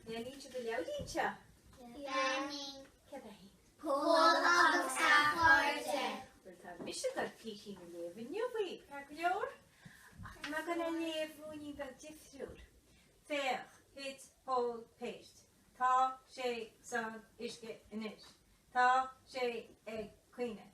Leanfaidh tú do leabhairín anseo? Leanfaidh. Cad é? Pól agus a Chairde. Bhuel, tá mise ag goil píosa a léamh inniu uaidh, ceart go leor? Ach tá mé ag goil á léamh ruainnín beag difriúil. Féach, thit Pól péist. Tá sé san uisce anois. Tá sé ag caoineadh.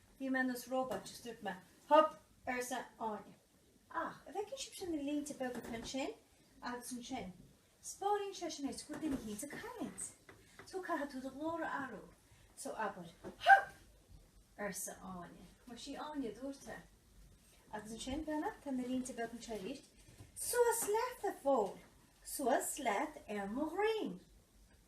Bhí mé ar nós róbat is dúirt mé, Hup! arsa Áine. Ach a' bhfeiceann sibh sin na línte beaga atá ansin agus ansin? Spáineann sé sin é so go bhfuil duine thíos ag caint. So caithfidh tú do ghlór a athrú. So abair, Hup! arsa Áine. Mar sí Áine a dúirt é. Agus ansin breathnaigh tá na línte beaga anseo aríst. Suas leat a Phóil, suas leat ar mo dhroim.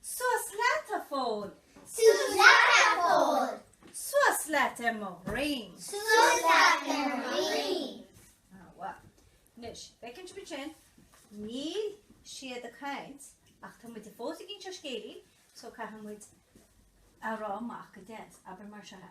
Suas leat, a Phóil! Suas leat, a Phóil! Suas leat ar mo dhroim! Suas leat ar mo dhroim! An-mhaith. Anois, a' bhfeiceann tú an pháirt sin, níl siad ag caint ach tá muid fós ag inseacht scéilín so caithfidh muid a rá amach go deas, abair mar seo.